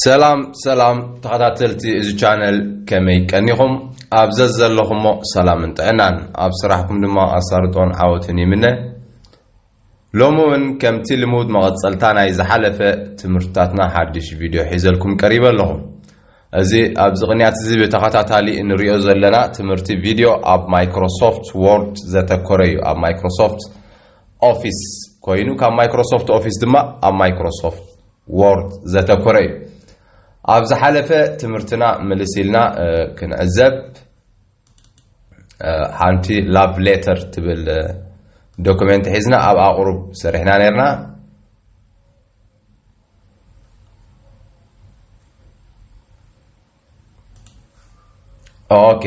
ሰላም ሰላም ተኸታተልቲ እዚ ቻነል ከመይ ቀኒኹም ኣብ ዘዘለኹሞ ሰላምን ጥዕናን ኣብ ስራሕኩም ድማ ኣሳርጦን ዓወትን ይምነ ሎሚ እውን ከምቲ ልሙድ መቐፀልታ ናይ ዝሓለፈ ትምህርትታትና ሓድሽ ቪድዮ ሒዘልኩም ቀሪበ ኣለኹ እዚ ኣብዚ ቅንያት እዚ ብተኸታታሊ እንሪኦ ዘለና ትምህርቲ ቪድዮ ኣብ ማይክሮሶፍት ወርድ ዘተኮረ እዩ ኣብ ማይክሮሶፍት ኦፊስ ኮይኑ ካብ ማይክሮሶፍት ኦፊስ ድማ ኣብ ማይክሮሶፍት ዎርድ ዘተኮረ እዩ። ኣብ ዝሓለፈ ትምህርትና ምልስ ኢልና ክንዕዘብ ሓንቲ ላቭ ሌተር ትብል ዶክመንት ሒዝና ኣብ ኣቑሩብ ሰሪሕና ነርና። ኦኬ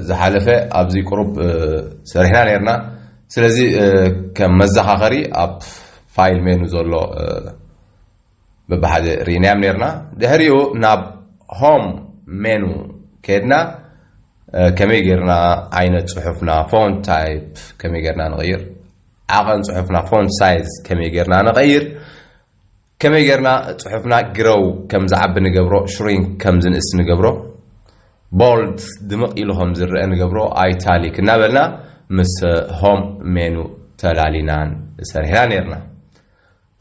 ዝሓለፈ ኣብዚ ቅሩብ ሰሪሕና ነርና ስለዚ ከም መዘኻኸሪ ኣብ ፋይል ሜኑ ዘሎ ብብሓደ ርኢናዮም ነርና ድሕሪኡ ናብ ሆም ሜኑ ከድና ከመይ ጌርና ዓይነት ፅሑፍና ፎን ታይፕ ከመይ ጌርና ንቐይር ዓቐን ፅሑፍና ፎን ሳይዝ ከመይ ጌርና ንቐይር ከመይ ጌርና ጽሑፍና grow ከም ዝዓቢ ንገብሮ፣ shrink ከም ዝንእስ ንገብሮ፣ bold ድምቕ ኢሉ ከም ዝረኣ ንገብሮ፣ italic እናበልና ምስ home menu ተላሊናን ሰሪሕና ኔርና።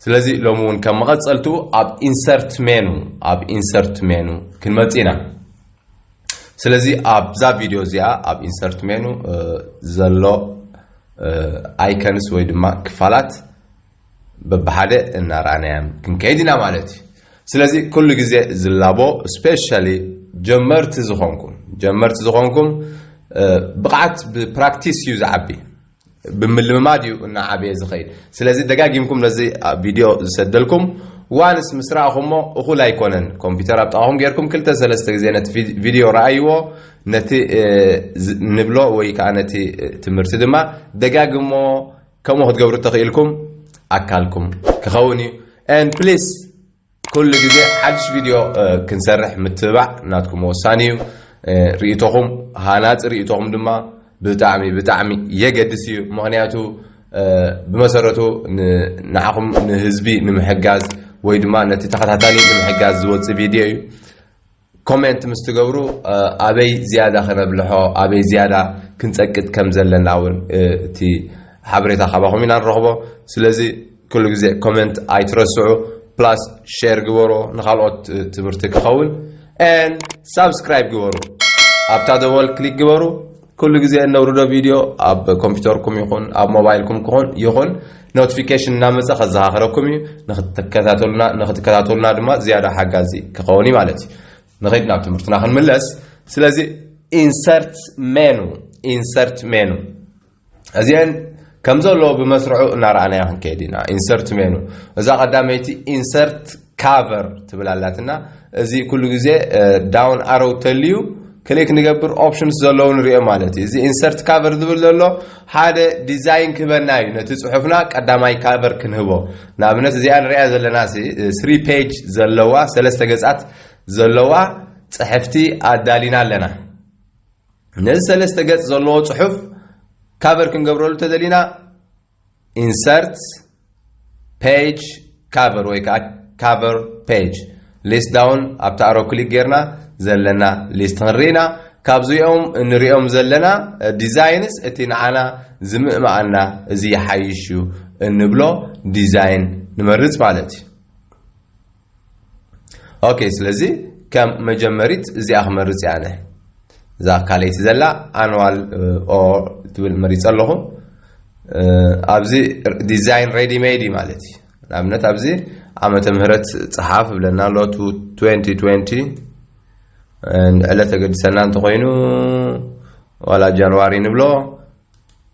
ስለዚ ሎሚ እውን ከም መቐጸልትኡ ኣብ insert menu ኣብ insert menu ክንመጽእ ኢና። ስለዚ ኣብዛ ቪድዮ እዚኣ ኣብ insert menu ዘሎ icons ወይ ድማ ክፋላት በብሓደ እናርኣናያም ክንከይድ ኢና ማለት እዩ። ስለዚ ኩሉ ግዜ ዝላቦ ስፔሻሊ ጀመርቲ ዝኾንኩም ጀመርቲ ዝኾንኩም ብቕዓት ብፕራክቲስ እዩ ዝዓቢ ብምልምማድ እዩ እናዓበየ ዝኸይድ። ስለዚ ደጋጊምኩም ነዚ ቪድዮ ዝሰደልኩም ዋንስ ምስ ረኣኹሞ እኹል ኣይኮነን ኮምፒውተር ኣብ ጥቓኹም ጌርኩም ክልተ ሰለስተ ግዜ ነቲ ቪድዮ ረኣይዎ ነቲ ንብሎ ወይ ከዓ ነቲ ትምህርቲ ድማ ደጋግሞ ከምኡ ክትገብሩ ተኺኢልኩም ኣካልኩም ክኸውን እዩ and please ኩሉ ግዜ ሓድሽ ቪድዮ ክንሰርሕ ምትብባዕ ናትኩም ወሳኒ እዩ ርእቶኹም ሃናፂ ርእቶኹም ድማ ብጣዕሚ ብጣዕሚ የገድስ እዩ ምክንያቱ ብመሰረቱ ንዓኹም ንህዝቢ ንምሕጋዝ ወይ ድማ ነቲ ተኸታታሊ ንምሕጋዝ ዝወፅእ ቪድዮ እዩ ኮሜንት ምስ ትገብሩ ኣበይ ዝያዳ ከነብልሖ ኣበይ ዝያዳ ክንጸቅጥ ከም ዘለና እውን እቲ ሓበሬታ ካባኹም ኢና ንረኽቦ ስለዚ ኩሉ ግዜ ኮሜንት ኣይትረስዑ ፕላስ ሼር ግበሮ ንካልኦት ትምህርቲ ክኸውን ን ሳብስክራይብ ግበሩ ኣብታ ደወል ክሊክ ግበሩ ኩሉ ግዜ እነውርዶ ቪድዮ ኣብ ኮምፒውተርኩም ይኹን ኣብ ሞባይልኩም ክኹን ይኹን ኖቲፊኬሽን እናመፀ ከዘኻኽረኩም እዩ ንክትከታተሉና ንክትከታተሉና ድማ ዝያዳ ሓጋዚ ክኸውን እዩ ማለት እዩ ንኸይድ ናብ ትምህርትና ክንምለስ ስለዚ ኢንሰርት ሜኑ ኢንሰርት ሜኑ እዚአን ከም ዘለዎ ብመስርዑ እናረኣናዮ ክንከይድ ኢና ኢንሰርት ሜኑ እዛ ቀዳመይቲ ኢንሰርት ካቨር ትብል ኣላትና እዚ ኩሉ ግዜ ዳውን ኣሮው ተልዩ ክሊክ ንገብር ኦፕሽንስ ዘለዉ ንሪኦ ማለት እዩ እዚ ኢንሰርት ካቨር ዝብል ዘሎ ሓደ ዲዛይን ክህበና እዩ ነቲ ፅሑፍና ቀዳማይ ካቨር ክንህቦ ንኣብነት እዚኣ ንሪኣ ዘለና ስሪ ፔጅ ዘለዋ ሰለስተ ገፃት ዘለዋ ፅሕፍቲ ኣዳሊና ኣለና ነዚ ሰለስተ ገፅ ዘለዎ ፅሑፍ ካቨር ክንገብረሉ ተደሊና ኢንሰርት ፔጅ ካቨር ወይ ከዓ ካቨር ፔጅ ሊስት ዳውን ኣብቲ ኣሮ ክሊክ ጌርና ዘለና ሊስት ክንርኢና ካብዚኦም እንሪኦም ዘለና ዲዛይንስ እቲ ንዓና ዝምእመኣና እዚ ይሓይሽ እዩ እንብሎ ዲዛይን ንመርፅ ማለት እዩ ኦኬ ስለዚ ከም መጀመሪት እዚኣ ክመርፅ እያ ኣነ እዛ ካልይቲ ዘላ ኣንዋል ኦ ትብል መሪፀ ኣለኹ ኣብዚ ዲዛይን ሬዲ ሜድ እዩ ማለት እዩ ንኣብነት ኣብዚ ዓመተ ምህረት ፀሓፍ ብለና ኣሎ 2020 ዕለት ተገድሰና እንተኮይኑ ዋላ ጃንዋሪ ንብሎ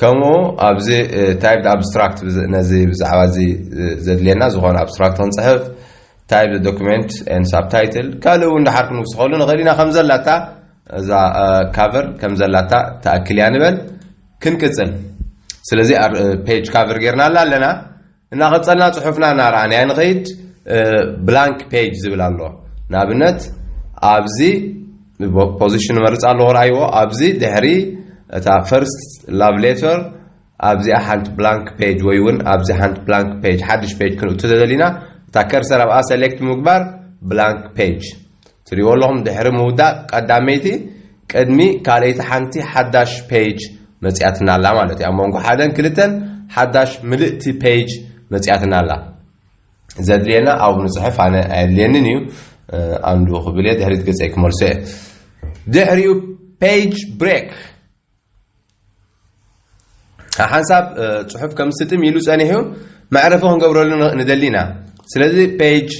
ከምኡ ኣብዚ ታይፕ ኣብስትራክት ነዚ ብዛዕባ እዚ ዘድልየና ዝኾነ ኣብስትራክት ክንፅሕፍ ታይፕ ዶክመንት ን ሳብታይትል ካልእ እውን ድሓር ክንውስኸሉ ንኽእል ኢና ከም ዘላታ እዛ ካቨር ከም ዘላታ ተኣክል እያ ንበል ክንቅፅል ስለዚ ፔጅ ካቨር ጌርናላ ኣለና እናቐጸልና ጽሑፍና እናረኣናዮ ንኸይድ ብላንክ ፔጅ ዝብል ኣሎ ንኣብነት ኣብዚ ፖዚሽን ንመርጽ ኣለዎ ረኣይዎ ኣብዚ ድሕሪ እታ ፈርስት ላቭ ሌተር ኣብዚኣ ሓንቲ ብላንክ ፔጅ ወይ እውን ኣብዚ ሓንቲ ብላንክ ፔጅ ሓድሽ ፔጅ ክንእቱ ተደሊና እታ ከርሰር ኣብኣ ሰሌክት ምግባር ብላንክ ፔጅ ትሪእዎ ኣለኹም ድሕሪ ምውዳእ ቀዳመይቲ ቅድሚ ካልኣይቲ ሓንቲ ሓዳሽ ፔጅ መጺኣትና ኣላ ማለት እዩ ኣብ መንጎ ሓደን ክልተን ሓዳሽ ምልእቲ ፔጅ መጺኣትና ኣላ ዘድልየና ኣብኡ ንፅሕፍ ኣነ ኣየድልየንን እዩ ኣንዱ ክብል እየ ድሕሪት ገፀይ ክመልሶ እየ ድሕሪኡ ፔጅ ብሬክ ሓንሳብ ፅሑፍ ከም ስጥም ኢሉ ፀኒሑ መዕረፊ ክንገብረሉ ንደሊ ኢና ስለዚ ፔጅ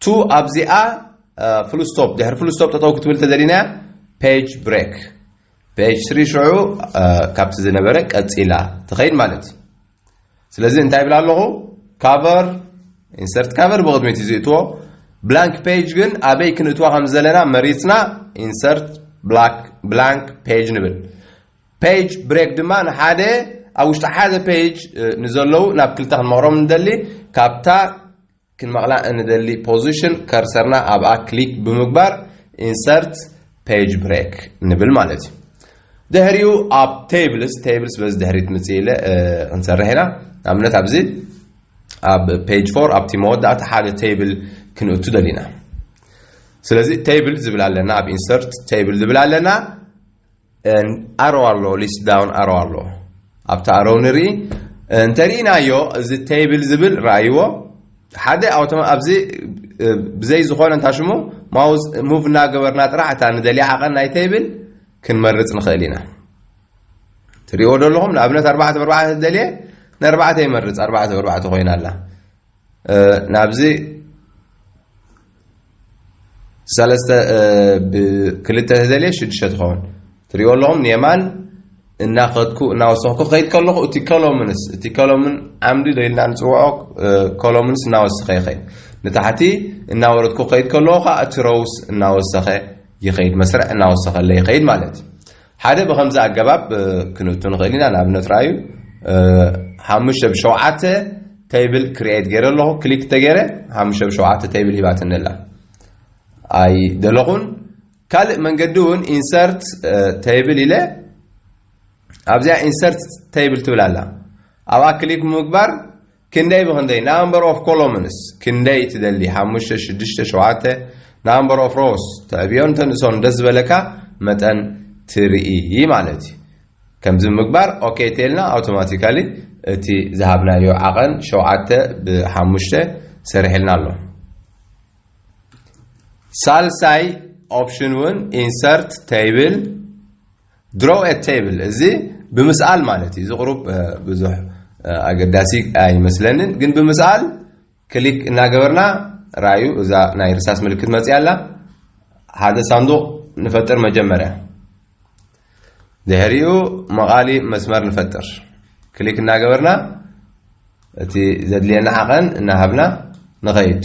ቱ ኣብዚኣ ፍሉስቶፕ ድሕሪ ፍሉስቶፕ ጠጠው ክትብል ተደሊና ፔጅ ብሬክ ፔጅ ስሪ ሽዑ ካብቲ ዝነበረ ቀፂላ ትኸይድ ማለት እዩ ስለዚ እንታይ ይብል ኣለኹ ካቨር ኢንሰርት ካቨር ብቕድሚት እዩ ዝእትዎ ብላንክ ፔጅ ግን ኣበይ ክንእትዋ ከም ዘለና መሪፅና ኢንሰርት ብላንክ ፔጅ ንብል ፔጅ ብሬክ ድማ ንሓደ ኣብ ውሽጢ ሓደ ፔጅ ንዘለዉ ናብ ክልተ ክንመቕሮም ንደሊ ካብታ ክንመቕላ እንደሊ ፖዚሽን ከርሰርና ኣብኣ ክሊክ ብምግባር ኢንሰርት ፔጅ ብሬክ ንብል ማለት እዩ ድሕሪኡ ኣብ ቴብልስ ቴብልስ በዚ ድሕሪት ምፅእ ኢለ ክንሰርሕ ኢና ንኣብነት ኣብዚ ኣብ ፔጅ ፎር ኣብቲ መወዳእታ ሓደ ቴብል ክንእቱ ደሊና ስለዚ ቴብል ዝብል ኣለና ኣብ ኢንሰርት ቴብል ዝብል ኣለና ን ኣሮ ኣሎ ሊስት ዳውን ኣሮ ኣሎ ኣብቲ ኣሮ ንርኢ እንተሪኢናዮ እዚ ተይብል ዝብል ረኣይዎ ሓደ ኣውቶማ ኣብዚ ብዘይ ዝኾነ እንታ ሽሙ ማውዝ ሙቭ እናገበርና ጥራሕ እታ ንደልያ ዓቐን ናይ ተይብል ክንመርፅ ንኽእል ኢና ትሪእዎ ዶ ኣለኹም ንኣብነት ኣርባዕተ ብኣርባዕተ ደልየ ንኣርባዕተ ይመርፅ ኣርባዕተ ብኣርባዕተ ኮይና ኣላ ናብዚ ሰለስተ ብክልተ ተደልየ ሽዱሽተ ትኸውን ትሪእዎ ኣለኹም ንየማን እናኸድኩ እናወሰኽኩ ከይድ ከለኹ እቲ ኮሎምንስ እቲ ኮሎምን ዓምዲ ዶ ኢልና ንፅውዖ ኮሎምንስ እናወሰኸ ይኸይድ ንታሕቲ እናወረድኩ ከይድ ከለኹ ከዓ እቲ ሮውስ እናወሰኸ ይኸይድ መስርዕ እናወሰኸለ ይኸይድ ማለት እዩ ሓደ ብኸምዚ ኣገባብ ክንእቱ ንኽእል ኢና፣ ንኣብነት ርኣዩ፣ ሓሙሽተ ብ ሸውዓተ ተይብል ክርኤት ገይረ ኣለኹ፣ ክሊክ እንተገይረ ሓሙሽተ ብ ሸውዓተ ተይብል ሂባትኒ ኣላ። ኣይደለኹን። ካልእ መንገዲ እውን ኢንሰርት ተይብል ኢለ ኣብዚኣ ኢንሰርት ተይብል ትብል ኣላ፣ ኣብኣ ክሊክ ብምግባር ክንደይ ብኽንደይ ናምበር ኦፍ ኮሎምንስ ክንደይ ትደሊ ሓሙሽተ ሽዱሽተ ሸውዓተ ናምበር ኦፍ ሮስ ተዕብዮን ተንእሶን ደስ ዝበለካ መጠን ትርኢ ማለት እዩ ከምዚ ምግባር ኦኬ ቴልና ኣውቶማቲካሊ እቲ ዝሃብናዮ ዓቐን ሸውዓተ ብሓሙሽተ ሰሪሕልና ኣሎ ሳልሳይ ኦፕሽን እውን ኢንሰርት ተይብል Draw a table እዚ ብምስኣል ማለት እዩ። እዚ ቁሩብ ብዙሕ ኣገዳሲ ኣይመስለንን፣ ግን ብምስኣል ክሊክ እናገበርና ራዩ እዛ ናይ ርሳስ ምልክት መፅያ ኣላ። ሓደ ሳንዱቕ ንፈጥር መጀመርያ፣ ድሕሪኡ መቓሊ መስመር ንፈጥር። ክሊክ እናገበርና እቲ ዘድልየና ዓቐን እናሃብና ንኸይድ።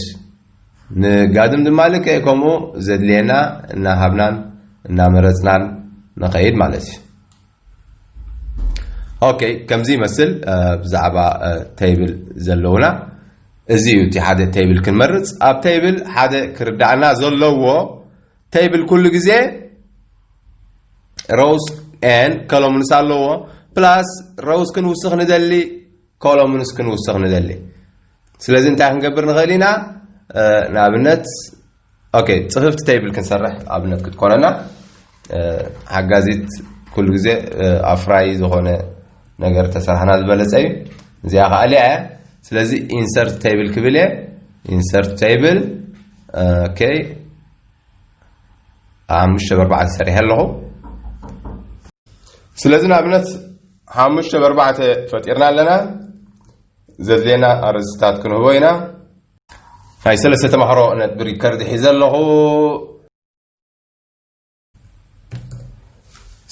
ንጋድም ድማ ልክዕ ከምኡ ዘድልየና እናሃብናን እናመረፅናን ንኸይድ ማለት እዩ። ኦኬ ከምዚ ይመስል ብዛዕባ ተይብል ዘለውና እዚ እዩ እቲ ሓደ ተይብል ክንመርፅ ኣብ ተይብል ሓደ ክርዳእና ዘለዎ ተይብል ኩሉ ግዜ ሮውስ ን ከሎምንስ ኣለዎ ፕላስ ሮውስ ክንውስኽ ንደሊ ኮሎምንስ ክንውስኽ ንደሊ። ስለዚ እንታይ ክንገብር ንኽእል ኢና? ንኣብነት ኦኬ ጽፍፍቲ ተይብል ክንሰርሕ ኣብነት ክትኮነና ሓጋዚት ኩሉ ግዜ ኣፍራይ ዝኾነ ነገር ተሰርሓና ዝበለጸ እዩ። እዚኣ ከዓ ሊያ እያ። ስለዚ ኢንሰርት ተይብል ክብል እየ። ኢንሰርት ተይብል ኦኬ ሓሙሽተ ብኣርባዕተ ሰሪሐ ኣለኹ። ስለዚ ንኣብነት ሓሙሽተ በርባዕተ ፈጢርና ኣለና ዘድልየና ኣርእስትታት ክንህቦ ኢና ናይ ሰለስተ ተማሃሮ ነጥቢ ሪከርድ ሒዘ ኣለኹ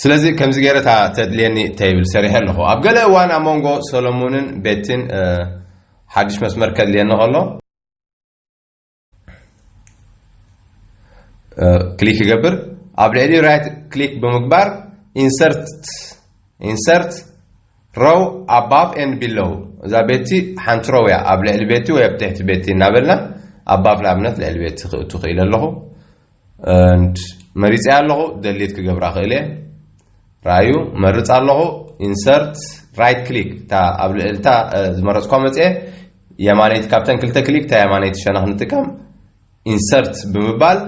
ስለዚ ከምዚ ገይረ እታ ተድልየኒ ተይብል ሰሪሐ ኣለኹ ኣብ ገለ እዋን ኣብ መንጎ ሰሎሙንን ቤትን ሓድሽ መስመር ከድልየኒ ከሎ ክሊክ ይገብር ኣብ ልዕሊ ራይት ክሊክ ብምግባር ኢንሰርት ኢንሰርት ሮው ኣባብ ኤን ቢሎው እዛ ቤቲ ሓንቲ ሮው እያ ኣብ ልዕሊ ቤቲ ወይ ኣብ ትሕቲ ቤቲ እናበልና ኣባብ ንኣብነት ልዕሊ ቤቲ ክእቱ ክኢለ ኣለኹ and መሪፀያ ኣለኹ ደሊት ክገብራ ክእል እየ ረኣዩ መርፅ ኣለኹ ኢንሰርት ራይት ክሊክ እታ ኣብ ልዕልታ ዝመረፅኳ መፅአ የማነይቲ ካብተን ክልተ ክሊክ እታ የማነይቲ ሸነኽ ንጥቀም ኢንሰርት ብምባል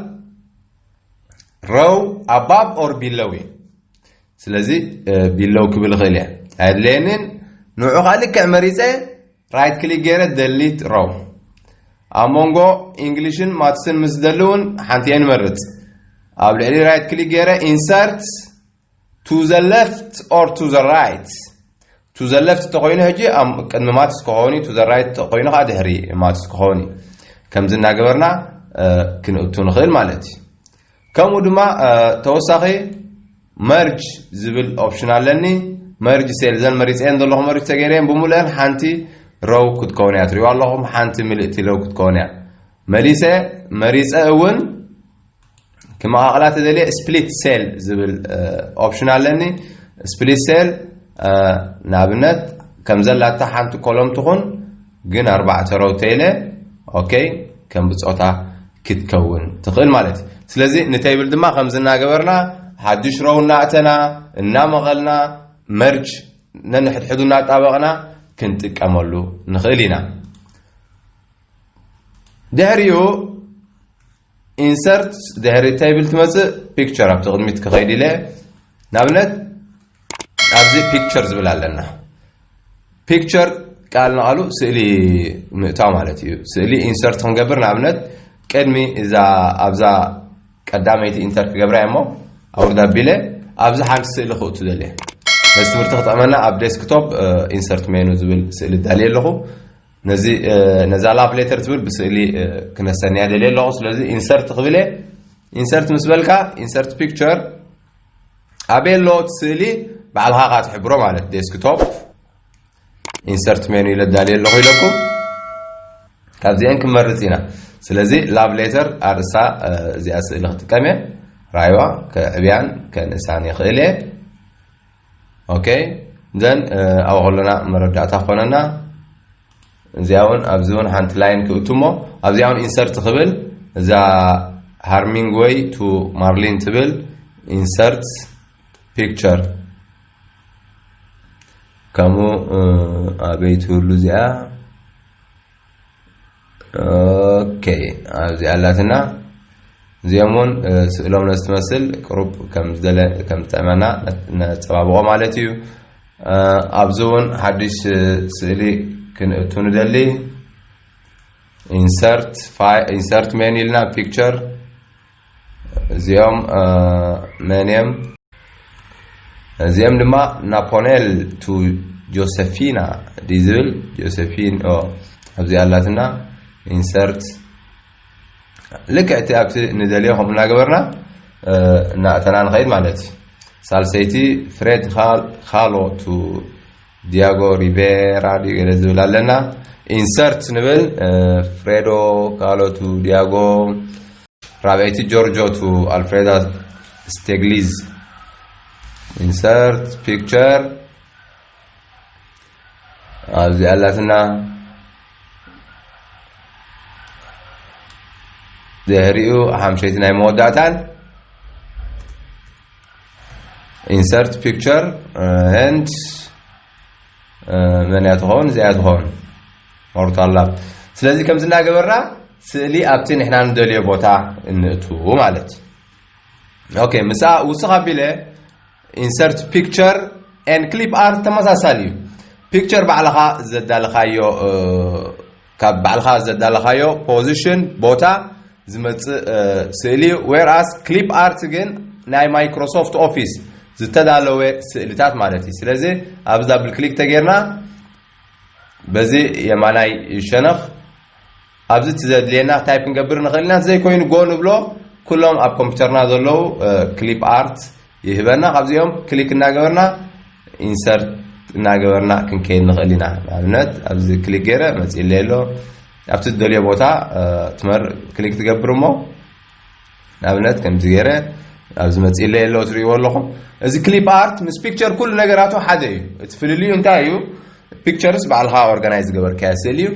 ረው ኣባብ ኦር ቢለው እዩ ስለዚ ቢለው ክብል ይኽእል እየ ኣየድለየንን ንዑ ከዓ ልክዕ መሪፀ ራይት ክሊክ ገይረ ደሊት ሮው ኣብ መንጎ ኢንግሊሽን ማትስን ምስ ደሊ እውን ሓንቲ እየ ንመርፅ ኣብ ልዕሊ ራይት ክሊክ ገይረ ኢንሰርት ቱ ዘ ሌፍት ኦር ቱ ዘ ራይት ቱ ዘ ሌፍት ተኮይኑ ሕጂ ቅድሚ ማትስ ክኸውን እዩ ቱ ዘ ራይት ተኮይኑ ከዓ ድሕሪ ማትስ ክኸውን እዩ ከምዚ እናገበርና ክንእቱ ንኽእል ማለት እዩ ከምኡ ድማ ተወሳኺ መርጅ ዝብል ኦፕሽን ኣለኒ መርጅ ሴል እዘን መሪፀየን ዘለኹ መርጅ ተገይረየን ብምሉአን ሓንቲ ረው ክትከውን እያ ትሪእዋ ኣለኹም ሓንቲ ምልእቲ ረው ክትከውን እያ መሊሰ መሪፀ እውን ክመቃቕላ ተደልየ ስፕሊት ሴል ዝብል ኦፕሽን ኣለኒ ስፕሊት ሴል ንኣብነት ከምዘላታ ሓንቲ ኮሎም ትኹን ግን ኣርባዕተ ሮው ቴለ ኦኬ ከም ብጾታ ክትከውን ትኽእል ማለት እዩ ስለዚ ንተይብል ድማ ከምዚ እናገበርና ሓዱሽ ሮው እናእተና እናመቐልና መርጅ ነንሕድሕዱ እናጣበቕና ክንጥቀመሉ ንኽእል ኢና ድሕሪኡ Insert ድሕሪ table ትመጽእ picture ኣብቲ ቅድሚት ክኸይድ ኢለ ንኣብነት ኣብዚ picture ዝብል ኣለና picture ቃል ንቓሉ ስእሊ ምእታው ማለት እዩ ስእሊ ኢንሰርት ክንገብር ንኣብነት ቅድሚ እዛ ኣብዛ ቀዳመይቲ ኢንተር ክገብራ እሞ ኣውርዳ ኣቢለ ኣብዚ ሓንቲ ስእሊ ክእቱ ደልየ ነዚ ትምህርቲ ክጠቕመና ኣብ ዴስክቶፕ ኢንሰርት ሜኑ ዝብል ስእሊ እዳልየ ኣለኹ ነዚ ነዛ ላቭ ሌተር ትብል ብስእሊ ክነሰንያ ደልየ ኣለኹ ስለዚ ኢንሰርት ክብል እየ ኢንሰርት ምስ በልካ ኢንሰርት ፒክቸር ኣበየ ኣለዎ እቲ ስእሊ ባዕልኻ ካ ትሕብሮ ማለት ዴስክቶፕ ኢንሰርት ሜኑ ኢለ ዳልየ ኣለኹ ኢለኩም ካብዚአን ክንመርፅ ኢና ስለዚ ላቭ ሌተር ኣርእሳ እዚኣ ስእሊ ክጥቀም እየ ራይዋ ከዕብያን ከንእሳን ይኽእል እየ ኦኬ ዘን ኣብ ከሎና መረዳእታ ክኾነና እዚኣ እውን ኣብዚ እውን ሓንቲ ላይን ክእቱ እሞ ኣብዚኣ እውን ኢንሰርት ክብል እዛ ሃርሚንግ ወይ ቱ ማርሊን ትብል ኢንሰርት ፒክቸር ከምኡ ኣበይ ትህሉ እዚኣ ኦኬ ኣብዚ ኣላትና እዚኦም እውን ስእሎም ነስትመስል ቅሩብ ከም ዝጠዕመና ነፀባብቆ ማለት እዩ ኣብዚ እውን ሓድሽ ስእሊ ክንእቱ ንደሊ ኢንሰርት ሜን ኢልና ፒክቸር እዚኦም መን እዮም? እዚኦም ድማ ናፖኔል ቱ ጆሴፊና ድዩ ዝብል ጆሴፊን ኣብዚ ኣላትና ኢንሰርት ልክዕቲ ኣብቲ ንደልዮ ከምኡ እናገበርና እናእተና ንኸይድ ማለት እዩ ሳልሰይቲ ፍሬድ ካሎ ቱ ዲያጎ ሪቬራ ድዩ ገለ ዝብል ኣለና ኢንሰርት ንብል ፍሬዶ ካሎቱ ዲያጎ ራብዐይቲ ጆርጆ ቱ ኣልፍሬዳ ስቴግሊዝ ኢንሰርት ፒክቸር ኣብዚ ኣላትና ድሕሪኡ ሓምሸይቲ ናይ መወዳእታን ኢንሰርት ፒክቸር ኤንድ መን እያ ትኸውን እዚኣ ትኸውን ሞርታል ላብ ስለዚ ከምዚ እናገበርና ስእሊ ኣብቲ ንሕና ንደልዮ ቦታ እንእቱ ማለት እዩ ኦኬ ምስኣ ውስኽ ኣቢለ ኢንሰርት ፒክቸር ኤን ክሊፕ ኣርት ተመሳሳሊ እዩ ፒክቸር ባዕልኻ ዘዳለኻዮ ካብ ባዕልኻ ዘዳለኻዮ ፖዚሽን፣ ቦታ፣ ዝመጽእ ስእሊ እዩ። ዌር ኣስ ክሊፕ ኣርት ግን ናይ ማይክሮሶፍት ኦፊስ ዝተዳለወ ስእልታት ማለት እዩ። ስለዚ ኣብዚ ዳብል ክሊክ ተጌርና በዚ የማናይ ሸነኽ ኣብዚ እቲ ዘድልየና ታይፕ ክንገብር ንኽእል ኢና። ዘይኮይኑ ጎ ንብሎ ኩሎም ኣብ ኮምፒውተርና ዘለዉ ክሊፕ ኣርት ይህበና ካብዚኦም ክሊክ እናገበርና ኢንሰርት እናገበርና ክንከይድ ንኽእል ኢና ንኣብነት ኣብዚ ክሊክ ገይረ መፅኢለይ ኣሎ ኣብቲ ዝደልዮ ቦታ ትመር ክሊክ ትገብር እሞ ንኣብነት ከምዚ ገይረ ኣብዚ መፅኢለይ ኣሎ ትሪእዎ ኣለኹም እዚ ክሊፕ ኣርት ምስ ፒክቸር ኩሉ ነገራቱ ሓደ እዩ እቲ ፍልልዩ እንታይ እዩ ፒክቸርስ ባዕልኻ ኦርጋናይዝ ዝገበርካዮ ስእሊ እዩ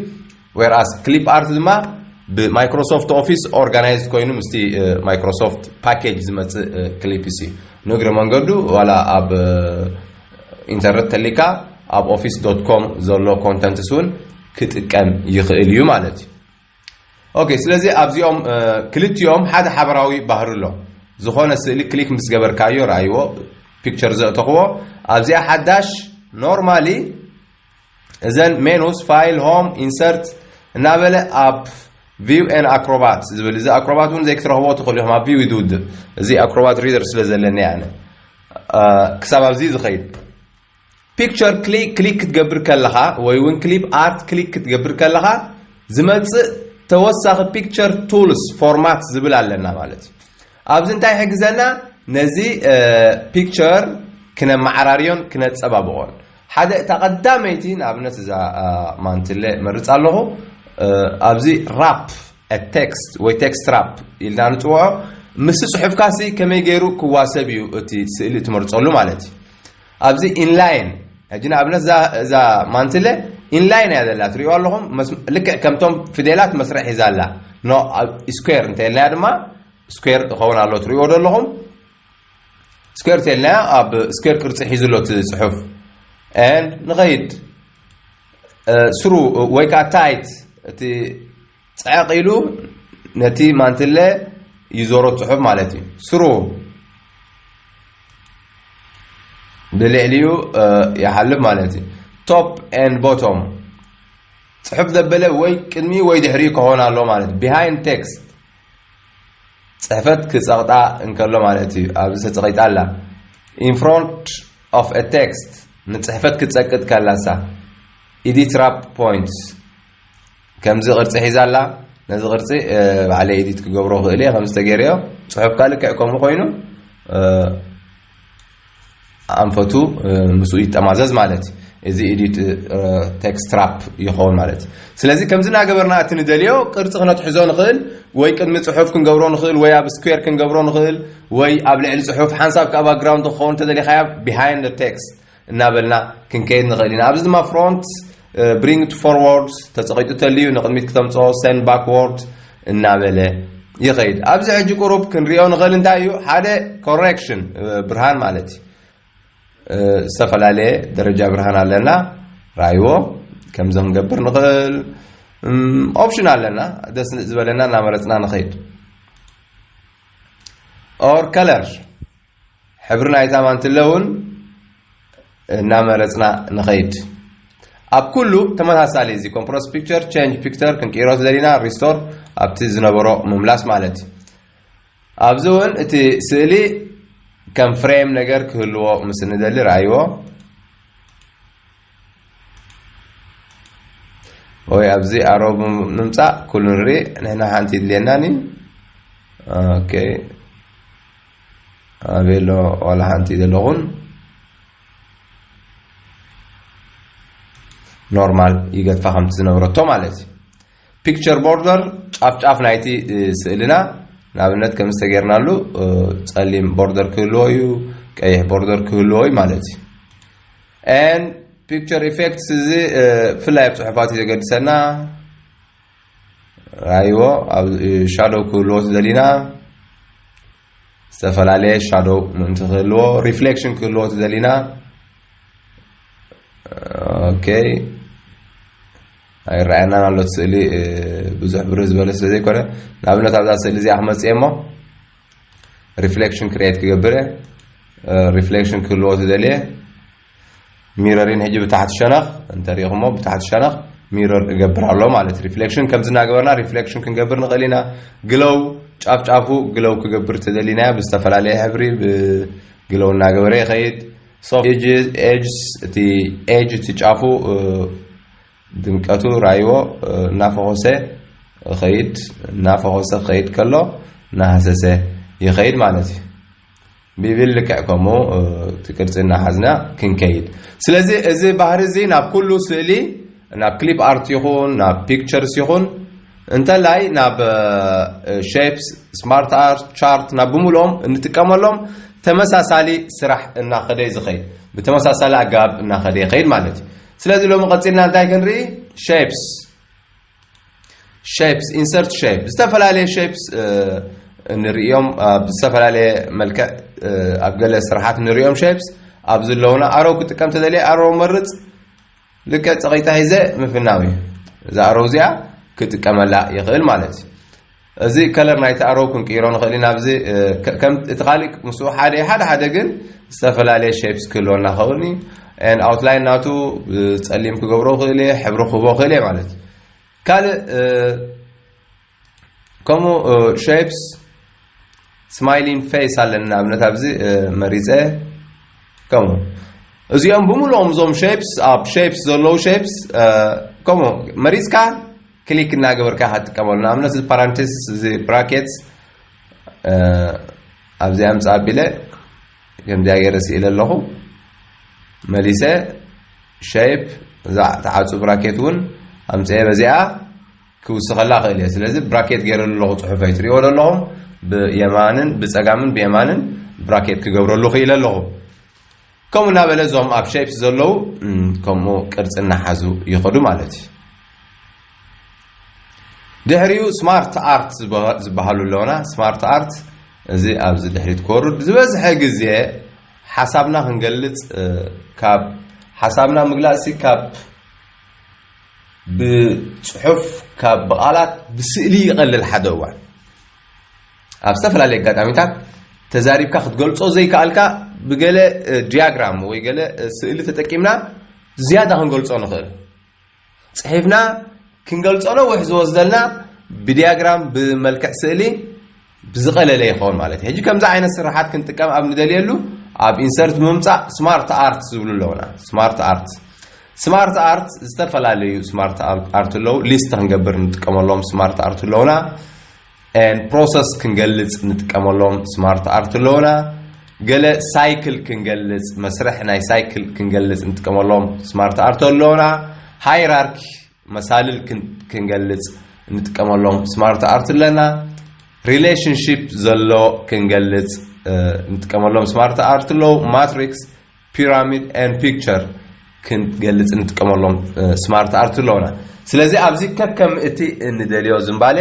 ዌርኣስ ክሊፕ ኣርት ድማ ብማይክሮሶፍት ኦፊስ ኦርጋናይዝድ ኮይኑ ምስቲ ማይክሮሶፍት ፓኬጅ ዝመፅእ ክሊፕስ እዩ ንእግረ መንገዱ ዋላ ኣብ ኢንተርነት ተሊካ ኣብ ኦፊስ ዶት ኮም ዘሎ ኮንተንትስ እውን ክጥቀም ይኽእል እዩ ማለት እዩ ኦኬ ስለዚ ኣብዚኦም ክልቲኦም ሓደ ሓበራዊ ባህሪ ኣሎ ዝኾነ ስእሊ ክሊክ ምስ ገበርካዮ ረኣይዎ ፒክቸር ዘእተኽዎ ኣብዚኣ ሓዳሽ ኖርማሊ እዘን ሜኑስ ፋይል ሆም ኢንሰርት እናበለ ኣብ ቪው ኤን ኣክሮባት ዝብል እዚ ኣክሮባት እውን ዘይክትረኽቦ ትኽእሉ ኢኹም ኣብ ቪው እዩ ዝውድእ እዚ ኣክሮባት ሪደር ስለ ዘለኒ ኣነ ክሳብ ኣብዚ ዝኸይድ ፒክቸር ክሊክ ክሊክ ክትገብር ከለኻ ወይ እውን ክሊፕ ኣርት ክሊክ ክትገብር ከለኻ ዝመፅእ ተወሳኺ ፒክቸር ቱልስ ፎርማት ዝብል ኣለና ማለት እዩ ኣብዚ እንታይ ይሕግዘና ነዚ ፒክቸር ክነመዓራርዮን ክነጸባብቖን ሓደ እታ ቀዳመይቲ ንኣብነት እዛ ማንትለ መርጻ ኣለኹ ኣብዚ ራፕ ቴክስት ወይ ቴክስት ራፕ ኢልና ንጽውዖ ምስ ጽሑፍካሲ ከመይ ገይሩ ክዋሰብ እዩ እቲ ስእሊ ትመርጸሉ ማለት እዩ ኣብዚ ኢንላይን ሕጂ ንኣብነት እዛ ማንትለ ኢንላይን እያ ዘላ ትሪእዋ ኣለኹም ልክዕ ከምቶም ፊደላት መስርዕ ሒዛ ኣላ ኖ ስኩዌር እንተልናያ ድማ ስኩዌር ይኸውን ኣሎ ትሪእዎ ዶ ኣለኹም ስኩዌር እንተልናያ ኣብ ስኩዌር ቅርፂ ሒዙ ኣሎ እቲ ፅሑፍ ንኸይድ ስሩ ወይ ከዓ ታይት እቲ ጸዕቕ ኢሉ ነቲ ማንትለ ይዞሮ ጽሑፍ ማለት እዩ ስሩ ብልዕሊኡ ይሓልፍ ማለት እዩ ቶፕ ን ቦቶም ፅሑፍ ዘበለ ወይ ቅድሚ ወይ ድሕሪ ክኾን ኣሎ ማለት ቢሃይንድ ቴክስት ፅሕፈት ክፀቕጣ እንከሎ ማለት እዩ ኣብዚ ተፀቂጣ ኣላ ኢንፍሮንት ኦፍ ቴክስት ንፅሕፈት ክትፀቅጥ ከላሳ ኢዲት ራፕ ፖይንትስ ከምዚ ቅርጺ ሒዛ ኣላ ነዚ ቅርጺ ባዕለይ ኤዲት ክገብሮ ክእል እየ ከምዚ ተገይረዮ ጽሑፍካ ልክዕ ከምኡ ኮይኑ ኣንፈቱ ምስኡ ይጠማዘዝ ማለት እዩ እዚ ኤዲት ቴክስት ትራፕ ይኸውን ማለት እዩ ስለዚ ከምዚ እናገበርና እቲ ንደልዮ ቅርፂ ክነትሕዞ ንኽእል ወይ ቅድሚ ፅሑፍ ክንገብሮ ንኽእል ወይ ኣብ ስኩዌር ክንገብሮ ንኽእል ወይ ኣብ ልዕሊ ፅሑፍ ሓንሳብ ካብ ባክግራውንድ ክኸውን ተደሊኻያ ቢሃይንድ ቴክስት እናበልና ክንከይድ ንኽእል ኢና። ኣብዚ ድማ ፍሮንት፣ ብሪንግ ቱ ፎርዎርድ፣ ተጸቒጡ ተልዩ ንቕድሚት ክተምጽኦ፣ ሰንድ ባክዎርድ፣ እናበለ ይኸይድ። ኣብዚ ሕጂ ቁሩብ ክንሪኦ ንኽእል እንታይ እዩ ሓደ ኮሬክሽን ብርሃን ማለት እዩ። ዝተፈላለየ ደረጃ ብርሃን ኣለና ራይዎ ከምዚ ክንገብር ንኽእል ኦፕሽን ኣለና ደስ ዝበለና እናመረፅና ንኸይድ ኦር ከለር ሕብሪ ናይታ ማንትለ እውን እናመረፅና ንኸይድ። ኣብ ኩሉ ተመሳሳሊ እዚ ኮምፕረስ ፒክቸር ቼንጅ ፒክተር ክንቅይሮ ዝደሊና ሪስቶር ኣብቲ ዝነበሮ ምምላስ ማለት እዩ። ኣብዚ እውን እቲ ስእሊ ከም ፍሬም ነገር ክህልዎ ምስ እንደሊ ረኣይዎ ወይ ኣብዚ ኣሮ ንምፃእ ኩሉ ንርኢ ንሕና ሓንቲ ይድልየናን እዩ ኦኬ ኣበይ ኣሎ ዋላ ሓንቲ ዘለኹም ኖርማል ይገድፋ ከምቲ ዝነበረቶ ማለት እዩ ፒክቸር ቦርደር ጫፍ ጫፍ ናይቲ ስእልና ንኣብነት ከም ዝተገርናሉ ጸሊም ቦርደር ክህልዎ እዩ ቀይሕ ቦርደር ክህልዎ እዩ ማለት እዩ ን ፒክቸር ኢፌክትስ እዚ ፍላይ ኣብ ፅሑፋት እዩ ዘገድሰና ራይዎ ኣብ ሻዶው ክህልዎ ዝደሊና ዝተፈላለየ ሻዶው ምእንቲ ክህልዎ ሪፍሌክሽን ክህልዎ ዝደሊና ኦኬ ኣይረኣየናን ኣሎ ስእሊ ብዙሕ ብርህ ዝበለ ስለ ዘይኮነ ንኣብነት ኣብዛ ስእሊ እዚኣ ክመፅእ እሞ ሪፍሌክሽን ክሬት ክገብር ሪፍሌክሽን ክህልዎ ዝደልየ ሚረሪን ሕጂ ብታሕቲ ሸነኽ እንተሪኢኹሞ ብታሕቲ ሸነኽ ሚረር እገብር ኣሎ ማለት ሪፍሌክሽን ከምዚ እናገበርና ሪፍሌክሽን ክንገብር ንኽእል ኢና ግለው ጫፍ ጫፉ ግለው ክገብር ተደሊናዮ ብዝተፈላለየ ሕብሪ ብግለው እናገበረ ይኸይድ ኤጅስ እቲ ኤጅ እቲ ጫፉ ድምቀቱ ራይዎ እናፈኾሰ ኸይድ እናፈኾሰ ኸይድ ከሎ እናሃሰሰ ይኸይድ ማለት እዩ ብብል ልክዕ ከምኡ እቲ ቅርጺ እናሓዝና ክንከይድ። ስለዚ እዚ ባህሪ እዚ ናብ ኩሉ ስእሊ ናብ ክሊፕ ኣርት ይኹን ናብ ፒክቸርስ ይኹን እንተላይ ናብ ሼፕስ ስማርት ኣርት ቻርት ናብ ብምልኦም እንጥቀመሎም ተመሳሳሊ ስራሕ እናኸደ እዩ ዝኸይድ ብተመሳሳሊ ኣገባብ እናኸደ ይኸይድ ማለት እዩ ስለዚ ሎሚ ቀፂልና እንታይ ክንርኢ ሼፕስ ሸፕስ ኢንሰርት ሸፕ ዝተፈላለየ ሸፕስ ንርእዮም ኣብ ዝተፈላለየ መልክዕ ኣብ ገለ ስራሓት ንርእዮም ሸፕስ ኣብ ዘለውና ኣረው ክጥቀም ተደልየ ኣረው መርፅ ልክዕ ፀቂታ ሂዘ ምፍናው እዩ እዛ ኣረው እዚኣ ክጥቀመላ ይኽእል ማለት እዩ እዚ ከለር ናይቲ ኣሮው ክንቅይሮ ንኽእል ኢና ኣብዚ እቲ ካልእ ምስኡ ሓደ እዩ ሓደ ሓደ ግን ዝተፈላለየ ሼፕስ ክህልወና ኸውን እዩ ን ኣውትላይን ናቱ ጸሊም ክገብሮ ክእል እየ ሕብሪ ክህቦ ክእል እየ ማለት እዩ ካልእ ከምኡ ሼፕስ ስማይሊን ፌስ ኣለኒ ንኣብነት ኣብዚ መሪፀ ከምኡ እዚኦም ብምሉኦም እዞም ሼፕስ ኣብ ሼፕስ ዘለዉ ሼፕስ ከምኡ መሪፅካ ክሊክ እናገበርካ ኢኻ ትጥቀመሉ ንኣብነት እዚ ፓራንቴስ እዚ ብራኬትስ ኣብዚ ኣምፅ ኣቢለ ከምዚኣ ገይረ ስኢለ ኣለኹ መሊሰ ሸይፕ እዛ ተዓፁ ብራኬት እውን ኣምፅአ በዚኣ ክውስኸላ እኽእል እየ ስለዚ ብራኬት ገይረሉ ኣለኹ ፅሑፈይ ትሪእዎ ዶ ኣለኹም ብየማንን ብፀጋምን ብየማንን ብራኬት ክገብረሉ ክኢለ ኣለኹ ከምኡ እናበለ እዞም ኣብ ሸይፕስ ዘለዉ ከምኡ ቅርፂ እናሓዙ ይኸዱ ማለት እዩ ድሕሪኡ ስማርት ኣርት ዝበሃሉ ኣለውና ስማርት ኣርት እዚ ኣብዚ ድሕሪት ክወርድ ዝበዝሐ ግዜ ሓሳብና ክንገልፅ ካብ ሓሳብና ምግላፅሲ ካብ ብጽሑፍ ካብ ብቓላት ብስእሊ ይቐልል ሓደ እዋን ኣብ ዝተፈላለየ ኣጋጣሚታት ተዛሪብካ ክትገልጾ ዘይከኣልካ ብገለ ዲያግራም ወይ ገለ ስእሊ ተጠቂምና ዝያዳ ክንገልጾ ንኽእል ጽሒፍና ክንገልጾ ነዊሕ ዝወስደልና ብዲያግራም ብመልክዕ ስእሊ ብዝቐለለ ይኸውን ማለት እዩ። ሕጂ ከምዚ ዓይነት ስርሓት ክንጥቀም ኣብ ንደልየሉ ኣብ ኢንሰርት ብምምጻእ ስማርት ኣርት ዝብሉ ኣለውና። ስማርት ኣርት ስማርት ኣርት ዝተፈላለዩ ስማርት ኣርት ኣለዉ። ሊስት ክንገብር ንጥቀመሎም ስማርት ኣርት ኣለውና። ፕሮሰስ ክንገልጽ ንጥቀመሎም ስማርት ኣርት ኣለውና። ገለ ሳይክል ክንገልጽ መስርሕ ናይ ሳይክል ክንገልጽ ንጥቀመሎም ስማርት ኣርት ኣለውና። ሃይራርኪ መሳልል ክንገልጽ እንጥቀመሎም ስማርት ኣርት ኣለና ሪሌሽንሽፕ ዘሎ ክንገልጽ እንጥቀመሎም ስማርት ኣርት ኣለዉ ማትሪክስ ፒራሚድ ን ፒክቸር ክንገልጽ እንጥቀመሎም ስማርት ኣርት ኣለውና ስለዚ ኣብዚ ከከም እቲ እንደልዮ ዝምባለ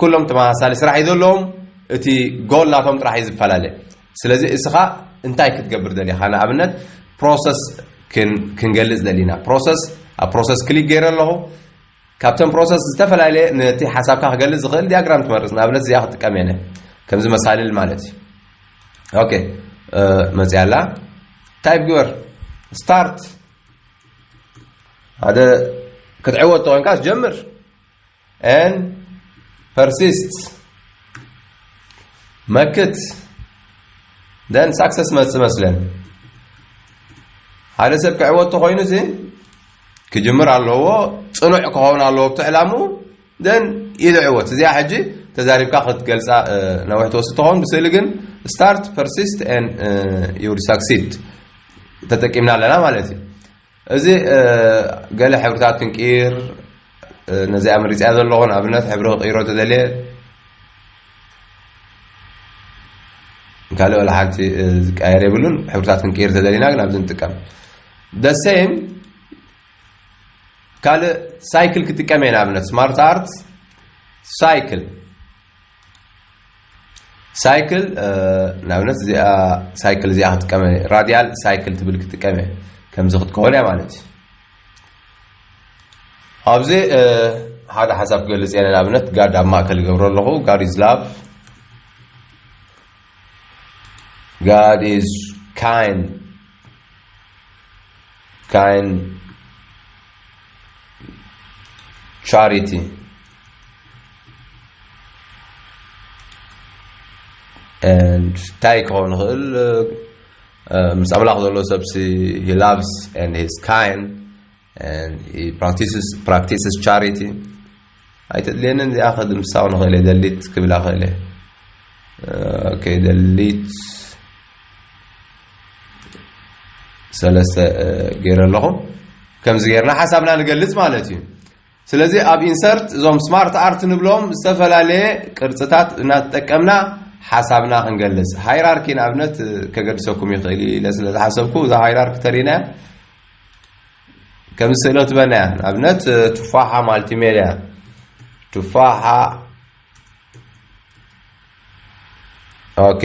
ኩሎም ተመሳሳሊ ስራሕ እዩ ዘለዎም እቲ ጎል ናቶም ጥራሕ እዩ ዝፈላለ ስለዚ እስኻ እንታይ ክትገብር ደሊኻ ንኣብነት ፕሮሰስ ክንገልጽ ደሊና ፕሮሰስ ኣብ ፕሮሰስ ክሊክ ገይረ ኣለኹ ካብተን ፕሮሰስ ዝተፈላለየ ነቲ ሓሳብካ ክገልጽ ዝኽእል ዲያግራም ትመርጽ ንኣብነት እዚኣ ክጥቀም የነ ከምዚ መሳልል ማለት እዩ ኦኬ መፅያ ኣላ ታይፕ ግበር ስታርት ሓደ ክትዕወት ተኮንካስ ጀምር and persists መክት ደን ሳክሰስ መፅ መስለን ሓደ ሰብ ክዕወት ተኮይኑ ሲ ክጅምር ኣለዎ ፅኑዕ ክኸውን ኣለዎ ብቲ ዕላሙ ደን ይልዕወት እዚኣ ሕጂ ተዛሪብካ ክትገልፃ ነዊሕ ትወስድ ትኸውን ብስእሊ ግን ስታርት ፐርሲስት ን ዩድ ሳክሲድ ተጠቂምና ኣለና ማለት እዩ እዚ ገለ ሕብርታት ክንቅይር ነዚኣ መሪፅያ ዘለኹ ንኣብነት ሕብሪ ክቅይሮ ተደልየ ካልእ ወላ ሓንቲ ዝቀየር የብሉን ሕብርታት ክንቅይር ተደሊና ግን ኣብዚ ንጥቀም ደሴም ካልእ ሳይክል ክጥቀም እየ ንኣብነት ስማርት ኣርት ሳይክል ሳይክል ንኣብነት እዚኣ ሳይክል እዚኣ ክጥቀመ ራዲያል ሳይክል ትብል ክጥቀመ ከምዚ ክትከውን እያ ማለት እዩ ኣብዚ ሓደ ሓሳብ ክገልፅ እየ ንኣብነት ጋድ ኣብ ማእከል ይገብሮ ኣለኹ ጋድ ኢዝ ላቭ ጋድ ኢዝ ካይን ካይን ቻሪቲ and እንታይ ክኸውን ይኽእል ምስ ኣምላኽ ዘሎ ሰብሲ he loves and he is kind and he practices practices charity ኣይተድልየንን እዚኣ ከድምሳው ንኽእል እየ ደሊት ክብላ ክእል እየ ኦኬ ደሊት ሰለስተ ገይረ ኣለኹ ከምዚ ገይርና ሓሳብና ንገልጽ ማለት እዩ ስለዚ ኣብ ኢንሰርት እዞም ስማርት ኣርት ንብሎም ዝተፈላለየ ቅርፅታት እናተጠቀምና ሓሳብና ክንገልፅ ሃይራርኪ ንኣብነት ከገድሰኩም ይኽእል እዩ ኢለ ስለ ዝሓሰብኩ እዛ ሃይራርኪ ተሪናያ ከምዚ ስእሎ ትበናያ ንኣብነት ቱፋሓ ማልቲሜድያ ቱፋሓ ኦኬ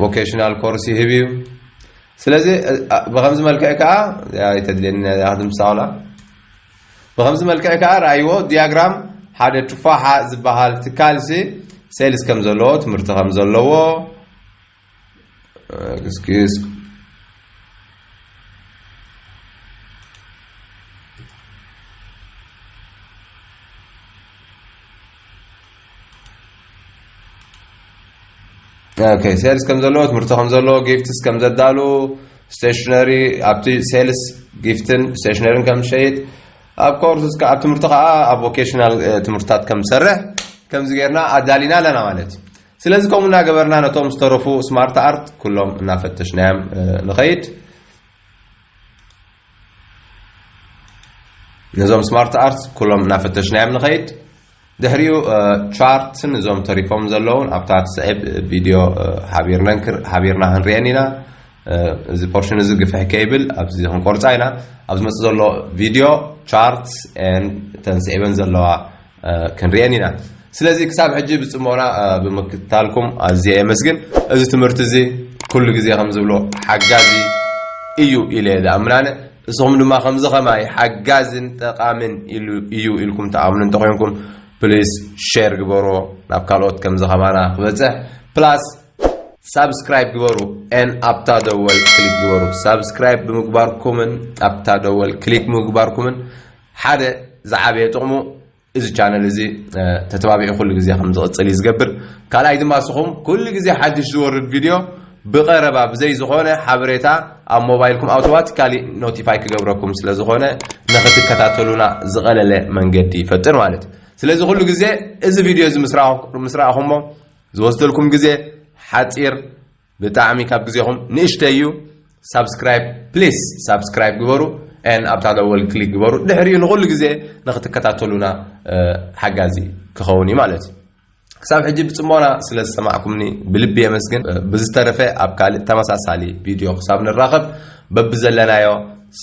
ቮኬሽናል ኮርስ ይህብ እዩ ስለዚ ብከምዚ መልክዕ ከዓ ይተድልየኒ ድምሳውላ ብከምዚ መልክዕ ከዓ ረኣይዎ ዲያግራም ሓደ ቱፋሓ ዝበሃል ትካልሲ ሴልስ ከም ዘለዎ ትምህርቲ ከም ዘለዎ Excuse. ኦኬ ሴልስ ከም ዘለዎ ትምህርቲ ከም ዘለዎ ጊፍትስ ከም ዘዳሉ ስቴሽነሪ ኣብቲ ሴልስ ጊፍትን ስቴሽነሪን ከም ዝሸይጥ ኣብ ኮርስ ኣብ ትምህርቲ ከዓ ኣብ ቮኬሽናል ትምህርትታት ከም ዝሰርሕ ከምዚ ጌርና ኣዳሊና ኣለና ማለት እዩ ስለዚ ከምኡ እናገበርና ነቶም ዝተረፉ ስማርት ኣርት ኩሎም እናፈተሽናዮም ንኸይድ ነዞም ስማርት ኣርት ኩሎም እናፈተሽናዮም ንኸይድ ድሕሪኡ ቻርትን እዞም ተሪፎም ዘለውን ኣብታ ትስዕብ ቪድዮ ሃቢርና ክንሪአን ኢና እዚ ፖርሽን እዚ ግፍሕ ከይብል ኣብዚ ክንቆርፃ ኢና ኣብ ዝመፅእ ዘሎ ቪድዮ ቻርት ተን ስዒበን ዘለዋ ክንሪኤን ኢና ስለዚ ክሳብ ሕጂ ብጽሞና ብምክትታልኩም ኣዝየ የመስግን እዚ ትምህርቲ እዚ ኩሉ ግዜ ከም ዝብሎ ሓጋዚ እዩ ኢለ ዝኣምን ኣነ እስኹም ድማ ከምዚ ከማይ ሓጋዝን ጠቃምን እዩ ኢልኩም ትኣምኑ እንተኮይንኩም ፕሊስ ሼር ግበሮ ናብ ካልኦት ከምዚ ከማና ክበጽሕ ፕላስ ሳብስክራይብ ግበሩ ን ኣብታ ደወል ክሊክ ግበሩ ሳብስክራይብ ብምግባርኩምን ኣብታ ደወል ክሊክ ምግባርኩምን ሓደ ዝዓበየ ጥቕሙ እዚ ቻነል እዚ ተተባቢዑ ኩሉ ግዜ ከም ዝቕጽል እዩ ዝገብር። ካልኣይ ድማ እስኹም ኩሉ ግዜ ሓድሽ ዝወርድ ቪድዮ ብቐረባ ብዘይ ዝኾነ ሓበሬታ ኣብ ሞባይልኩም ኣውቶማቲካሊ ኖቲፋይ ክገብረኩም ስለ ዝኾነ ንኽትከታተሉና ዝቐለለ መንገዲ ይፈጥር ማለት እዩ። ስለዚ ኩሉ ግዜ እዚ ቪድዮ እዚ ምስ ረኣኹሞ ዝወስደልኩም ግዜ ሓጺር ብጣዕሚ ካብ ግዜኹም ንእሽተይ እዩ ሳብስክራይብ ፕሊስ ሳብስክራይብ ግበሩ ን ኣብታ ደወል ክሊክ ግበሩ ድሕሪኡ ንኹሉ ግዜ ንክትከታተሉና ሓጋዚ ክኸውን እዩ ማለት እዩ ክሳብ ሕጂ ብጽሞና ስለ ዝሰማዕኩምኒ ብልቢ የመስግን ብዝተረፈ ኣብ ካልእ ተመሳሳሊ ቪድዮ ክሳብ ንራኸብ በብዘለናዮ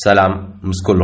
ሰላም ምስ ኩሉ